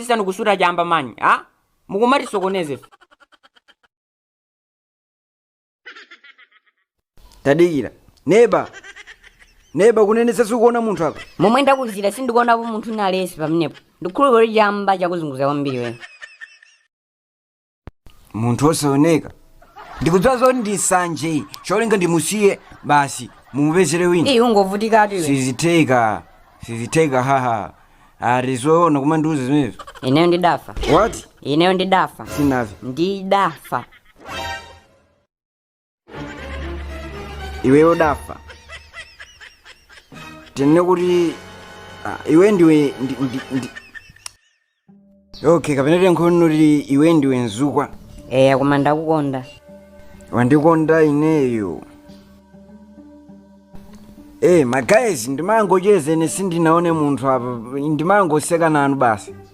asanu kusuta chamba manyi a mukumatisokoneza ife tadikira neba neba kunenetsa sukuona munthu apa momwe ndakuuzira sindikuonapo munthu nale'nsi pamenepo ndikhulupirira kuti chamba chakuzunguza kwambiri weyo munthu osaoneka ndikudziwa zoti ndi sanje cholinga ndimusiye basi mumupezere wina ii ungovutikatu iwe sizitheka sizitheka haha ali zoona kumandiuza zimenezo ineyo ndidafa what ineyo ndidafa sunamve ndidafa iwe udafa tinene kuti ah, iwe ndiwe ndi- ndi- ndi- okay kapena tingoti kuti iwe ndiwe mzukwa eya koma ndakukonda wandikonda ineyo e magaizi ndimangocheza ine sindinaone munthu apa ndimangoseka nanu basi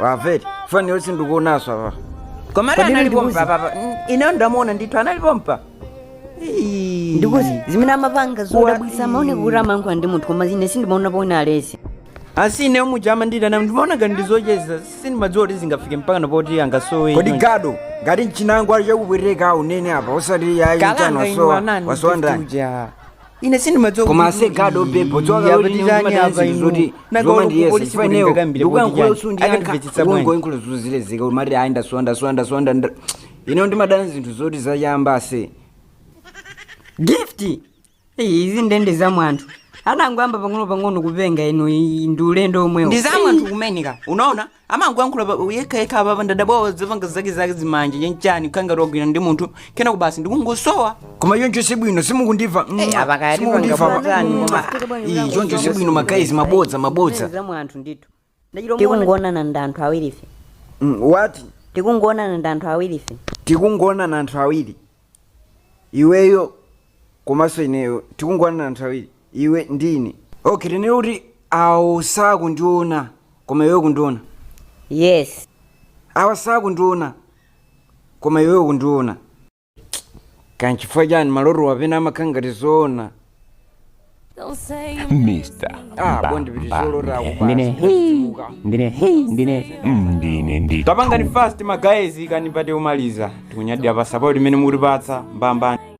wamvere fani yo sindikumuonanso apa komatu Kodi anali ndikuzi? pompa papa ineyo ndamuona ndithu anali pompa Ii. ndikuuzeni zimene amapanga zodabwitsa amaoneka kuti amayankhula ndi munthu koma ine sindimaonapo alesi asi ineyo muja amandiitana ndimaona ngati ndizocheza sindimadziwa kuti zingafike mpakana poti angasowe kodi ino. gado ngati mchina nduwo uli ukupweteka unene apa osati yayi kalanga mchano inu wasowa anani wasondani uja ine sindimadziwa Koma ase God obe, podziwa kuti ine ndimadana zinthu zoti zoma ndiyesa chifukwa ineyo ndikuyankhula sukundiyankha ungoyankhula zinthu zizilekeka umati ayi ndasowa ndasowa ndasowa nda- nda- ineyo ndimadana zinthu zoti zachamba ase gift Eyi, izi ndiye za mwa anthu anangoyamba pang'ono pang'ono kupenga inu iyi ndi ulendo omwewo ndi za mwa anthu kumeneko unaona amangoyankhula pa- yekhayekha apapa ndadabwa azipanga zake zake zimanja chanichani kukhala ngati wagwira ndi munthu kenako basi ndikungosowa koma choncho si bwino simukundimva mm, Eh, apa kaya simukundimva tipanga apa. potani, Mm, koma- Fika bwanji Ii, mzangu, choncho si mzangu, bwino mzangu. magaizi mabodza mabodza Za mu anthu ndithu ndachita umaona- tikungoonana ndi anthu awirife Mm, what tikungoonana ndi anthu awirife tikungoonana anthu awiri iweyo komanso ineyo tikungoonana anthu awiri iwe ndi ine okay tinene kuti awo sakundiona koma iwe ukundiona yes awa sakundiona koma iwe ukundiona ka nchifukwa chani malotowa pena amakhala ngati zoona Mr. ah bondi piti zolota akupasa ndine hii ndine hii ndine Ndine ndi. tapangani fast magaizi kani ipite kumaliza tikunyadira pa support imene mukutipatsa mbambande